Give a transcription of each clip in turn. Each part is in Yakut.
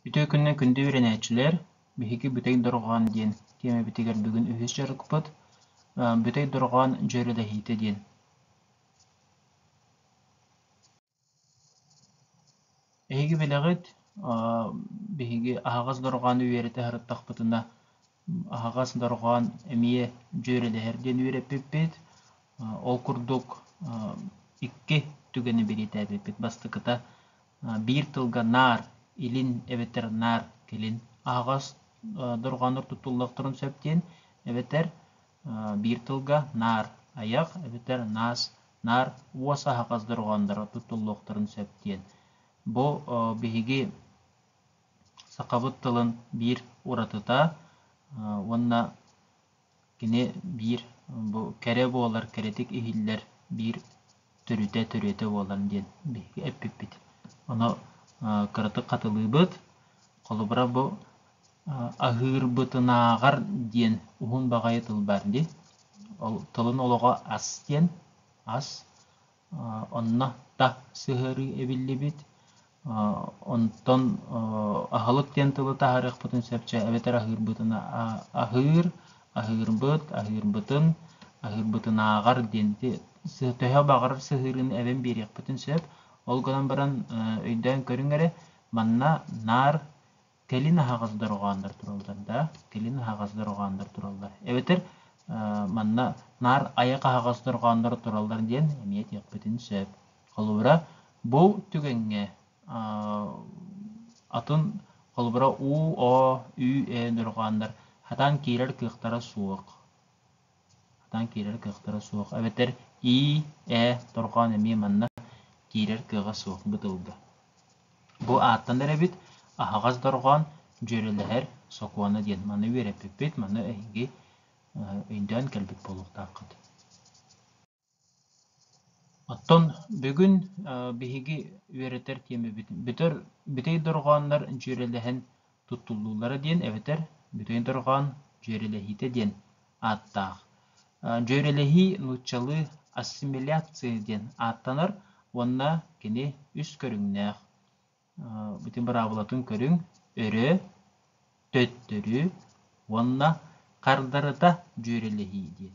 Үтүө күнүнэн күндү үөрэнээччилэр! Биһиги Бүтэй Дорҕоон диэн тиэмэбитигэр бүгүн үһүс дьарыкпыт «Бүтэй Дорҕоон дьүөрэлэһиитэ» диэн. Эһиги бэлэҕит биһиги аһаҕас дорҕоону үөрэтэ сырыттахпытына аһаҕас дорҕоон эмиэ дьүөрэлэһэр диэн үөрэппиппит. Ол курдук икки түгэни бэлиэтээбиппит бастакыта биир тылга наар илин эбэтэр наар кэлин аһаҕас дорҕооннор туттуллуохтарын сөп диэн эбэтэр биир тылга наар айах эбэтэр наас наар уос аһаҕас дорҕоонноро туттуллуохтарын сөп диэн. Бу биһиги сахабыт тылын биир уратыта уонна кини биир бу кэрэ буолар кэрэтик иһиллэр биир төрүтэ төрүөтэ буолар диэн биһиги эппиппит ону кыратык хатылыыбыт холобура бу аһыырбытынааҕар диэн уһун баҕайы тыл баар дии ол тылын олоҕо ас диэн ас Онно та сыһыарыы эбиллибит. Онтон аһылык диэн тылы таһаарыахпытын сөпчө эбэтэр аһыырбытын аһыыр, аһыырбыт, аһыырбытын, аһыырбытынааҕар диэн ити төһө баҕарар сыһыарыыны эбэн биэриэхпитин сөп. Ол гынан баран өйдөөн көрүҥ эрэ, манна наар кэлин аһаҕас дорҕооннор тураллар да кэлин аһаҕас дорҕооннор тураллар эбэтэр манна наар айах аһаҕас дорҕооннор тураллар диэн эмиэ диэхпитин сөп холобура бу түгэҥҥэ атын холобура уу о ү э дорҕооннор хатаан киирэр кыахтара суох Сатаан киирэр кыахтара суох эбэтэр ии, ээ, торҕоон эмиэ манна киирэр кыаҕа суох бытылга. Бу ааттанар эбит аһаҕас дорҕоон, дьүөрэлэһэр сокуона диэн. Маны үөрэппиппит, маны эһиги өйдөөн кэлбит буолуохтааххыт Оттон бүгүн биһиги үөрэтэр тиэмэбит бүтэр бүтэй дорҕооннор дьүөрэлэһэн туттуллуулара диэн эбэтэр бүтэй дорҕоон дьүөрэлэһиитэ диэн ааттаах. Дьүөрэлэһии нууччалыы ассимиляция диэн ааттанар уонна кини үс көрүҥнээх. ити быраабылатын көрүҥ өрө төттөрү уонна хардарыта дьүөрэлэһии диэн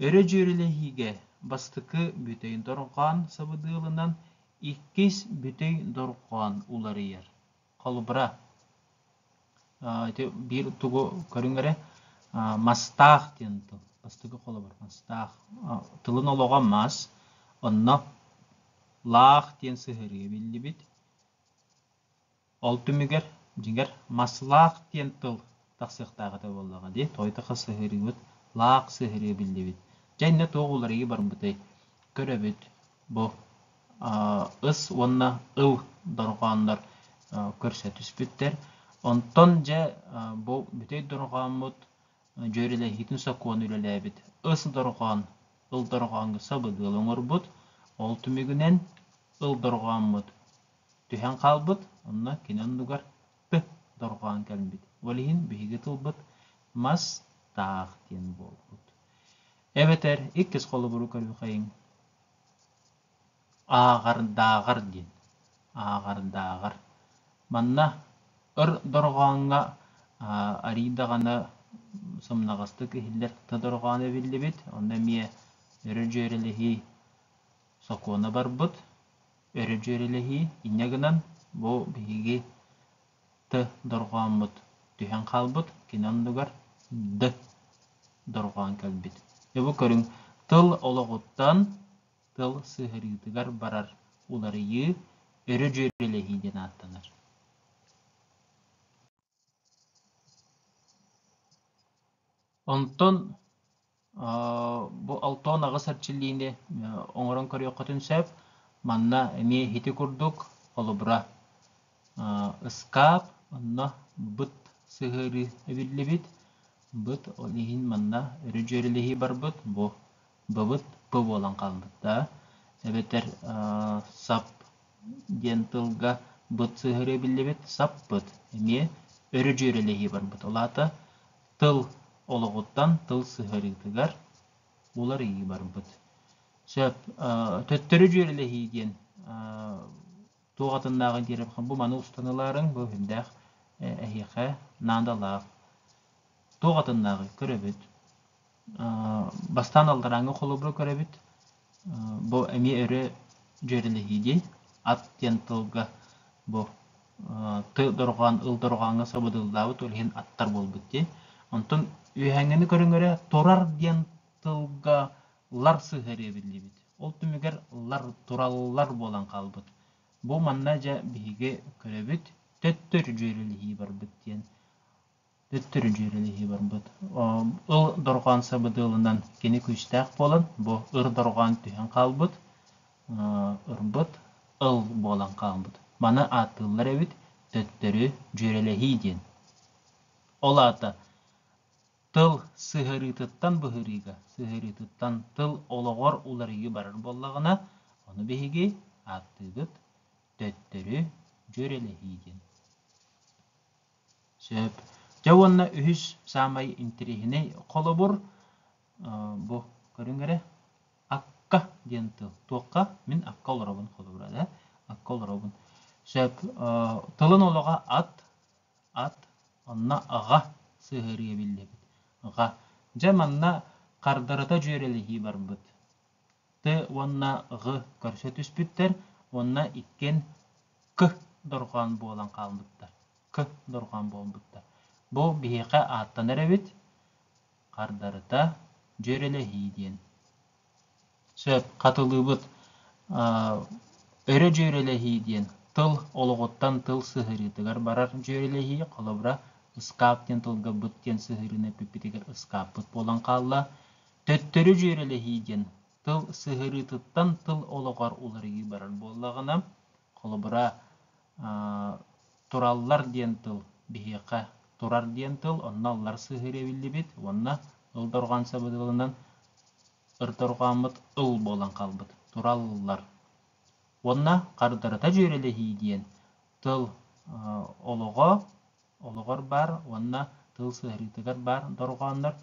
өрө дьүөрэлэһиигэ бастакы бүтэйин дорҕоон сабыдыалынан иккис бүтэй дорҕоон уларыйар холобура Ити биир тугу көрүҥ эрэ мастаах диэн тыл. Бастакы холобур мастаах. Тылын олоҕо мас, онно лаах диэн сыһарыы биллибит. Ол түмүгэр, дьиҥэр, маслаах диэн тыл тахсыахтаах этэ буоллаҕа дии. Тойтахха сыһарыыбыт лаах сыһарыы биллибит. Дьэ иннэ туох уларыйыы барбытай? Көрөбүт бу ыс уонна ыл дорҕооннор көрсө түспүттэр. Онтон дьэ бу бүтэй дорҕооммут дьүөрэлэһиитин сокуон үлэлээбит ыс дорҕоон, ыл дорҕооҥҥо сабыдыал оҥорбут. Ол түмүгүнэн ыл дорҕооммут түһэн хаалбыт, онно кини оннугар п дорҕоон кэлбит. Ол иһин биһиги тылбыт мас таах диэн буолбут. Эбэтэр иккис холобуру көрүхэйиҥ. ааҕардааҕар диэн ааҕардааҕар манна өр дорҕооҥҥо арий даҕаны сымнаҕастык иһиллэр дорҕооно эбиллибит онно эмиэ өрө-дьүөрэлэһии сокуона барбыт өрө-дьүөрэлэһии инньэ гынан бу биһиги Т дорҕооммут түһэн хаалбыт, кини оннугар Д дорҕоон кэлбит. Бу көрүҥ тыл олоҕуттан тыл сыһарыытыгар барар уларыйыы өрө дьүөрэлэһии диэн ааттанар. Онтон Бу Алтон аҕыс эрчиллиини оҥорон көрүөххүтүн сөп. Манна эмиэ ити курдук холобура ыскаап, онно быт сыһыарыы эбиллибит. Быт ол иһин манна өрө дьүөрэлэһии барбыт. Бу быбыт п буолан хаалбыт да. Эбэтэр сап диэн тылга быт сыһыарыы эбиллибит. Саппыт эмиэ өрө дьүөрэлэһии барбыт. Ол аата тыл олоҕуттан тыл сыһыарыытыгар уларыйыы барбыт. Сөп. Төттөрү дьүөрэлэһии диэн туох атыннааҕый диэри бу маны устанылаарыҥ бу үрдээх эһиэхэ наадалаах. Туох атыннааҕый көрөбүт. Бастаан алларааҥҥы холобуру көрөбүт. Бу эмиэ өрө дьүөрэлэһиини ат диэн тылга бу тыл дорҕоон ыл дорҕооҥҥо сабыдыаллаабыт ол иһин аттар буолбут дии. Онтон үөһээҥҥини көрүҥэрэ турар диэн тылга лар сыһыарыы эбиллибит. Ол түмүгэр лар, тураллар буолан хаалбыт. Бу манна дьэ биһиги көрөбүт, төттөрү дьүөрэлэһии барбыт диэн. төттөрү дьүөрэлэһии барбыт. Ыл дорҕоон сабыдыалынан кини күүстээх буолан, бу ыр дорҕоон түһэн хаалбыт, ырбыт ыл буолан хаалбыт. Маны ааттыыллар эбит төттөрү дьүөрэлэһии диэн. Ол аата тыл сыһарыытыттан быһыырыыга, сыһарыытыттан тыл олоҕор уларыйыы барар буоллаҕына, ону биһиги ааттыыбыт төттөрү дьүөрэлэһии диэн. Сөп. Дьэ уонна үһүс саамай интэриэһинэй холобур бу көрүҥ эрэ акка диэн тыл. Туохха? Мин акка олоробун холобура да. Акка олоробун. Сөп. Тылын олоҕо ат, ат, онно аҕа сыһыарыа биллэбит. Аҕа. Дьэ манна хардарыта дьүөрэлэһии барбыт. т уонна ҕ көрсө түспүттэр уонна иккиэн к дорҕоон буолан хаалбыттар к дорҕоон буолбуттар бу биһиэхэ ааттанар эбит хардарыта дьүөрэлэһии диэн сөп хатылыыбыт өрө дьүөрэлэһии диэн тыл олоҕуттан тыл сыһыарыытыгар барар дьүөрэлэһии холобура ыскаап диэн тылга быт диэн сыһыарыыны эппиппитигэр ыскааппыт буолан хаалла Төттөрү дьүөрэлэһии диэн тыл сыһыарыытыттан тыл олоҕор уларыйыы барар буоллаҕына, холобура, тураллар диэн тыл биһиэхэ турар диэн тыл, онно аллар сыһыарыы эбиллибит уонна ыл дорҕоон сабыдылынан ырдорҕооммут ыл буолан хаалбыт, тураллар. Уонна хардарыта дьүөрэлэһии диэн тыл олоҕо олоҕор баар уонна тыл сыһарыытыгар баар дорҕооннор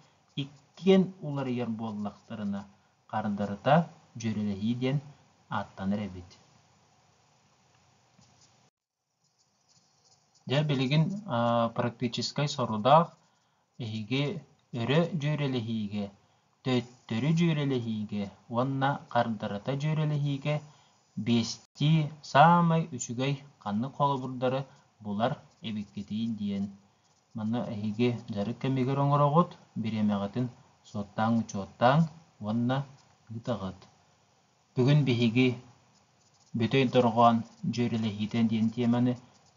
иккиэн уларыйар буоллахтарына, хардарыта дьүөрэлэһии диэн ааттанар эбит. Дьэ, билигин практическай сорудаах Биһиги өрө дьүөрэлэһиигэ, төттөрү дьүөрэлэһиигэ уонна хардарыта дьүөрэлэһиигэ биэстии саамай үчүгэй ханнык холобурдары булар эбиккитий диэн манна эһиги дьарык кэмигэр оҥороҕут, бириэмэҕитин суоттааҥ-учуоттааҥ уонна ыытаҕыт. Бүгүн биһиги Бүтэй дорҕоон дьүөрэлэһиитэ диэн тиэмэни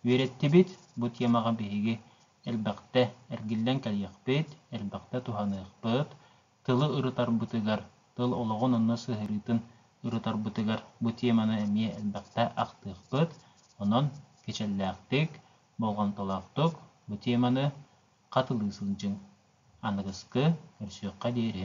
үөрэттибит. Бу тиэмэҕэ биһиги элбэхтэ эргиллэн кэлиэхпит, элбэхтэ туһаныахпыт. Тылы ырытарбытыгар, тыл олоҕун онно сыһыарыытын ырытарбытыгар бу тиэмэни эмиэ элбэхтэ ахтыахпыт. Онон кичэллээхтик, болҕомтолоохтук бу тиэмэни хатылыы сылдьыҥ. Аныгыскы, көрсүөххэ диэри.